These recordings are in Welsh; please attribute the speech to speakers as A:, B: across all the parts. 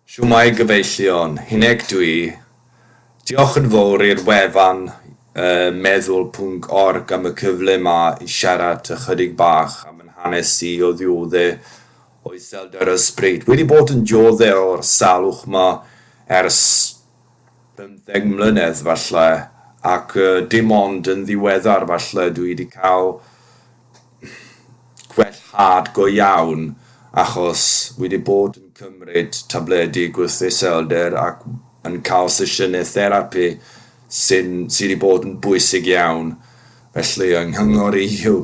A: Shwmae gyfeillion, Huneg dwi. Diolch yn fowr i'r wefan yy meddwl pwnc org am y cyfle ma i siarad ychydig bach am yn hanes i o ddiodde o iselder ysbryd. Wedi bod yn diodde o'r salwch ma ers bymtheg mlynedd falle ac yy dim ond yn ddiweddar falle dwi di ca'l gwellhad go iawn achos wi 'di bod yn cymryd tabledi gwrth-iselder ac yn cael sesiynau therapi sy'n... sy 'di bod yn bwysig iawn. Felly, yng nghyngor i yw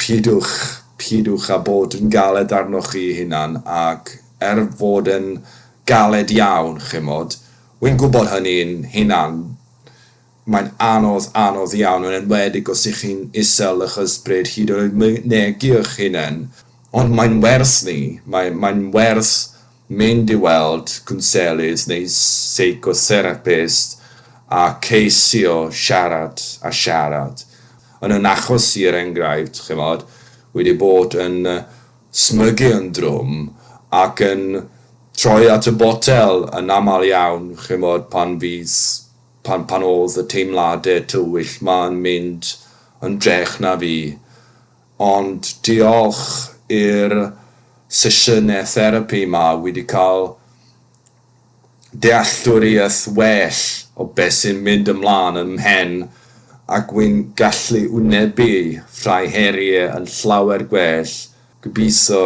A: pidwch, pidwch â bod yn galed arnoch chi'ch hunan ac er fod e'n galed iawn, chimod, wi'n gwybod hynny'n hunan, Mae'n anodd, anodd iawn, yn enwedig os ych chi'n isel ych ysbryd hyd yn oed mynegi'ch hunen, ond mae'n werth ni, mae, mae'n werth mynd i weld cwnselydd neu seicotherapist a ceisio siarad a siarad. Yn yn achos i er enghraifft, chimod, wedi bod yn smygu yn drwm ac yn troi at y botel yn aml iawn, chimod, pan fydd pan pan odd y teimlade tywyll ma'n mynd yn drech na fi. Ond diolch i'r sesiyne therapi ma wi di ca'l dealltwriaeth well o be sy'n mynd ymlan yn mhen ac wi'n gallu wynebu rhai herie yn llawer gwell. Gobitho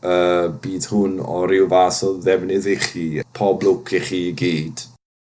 A: y bydd hwn o ryw fath o ddefnydd i chi. Pob lwc i chi i gyd.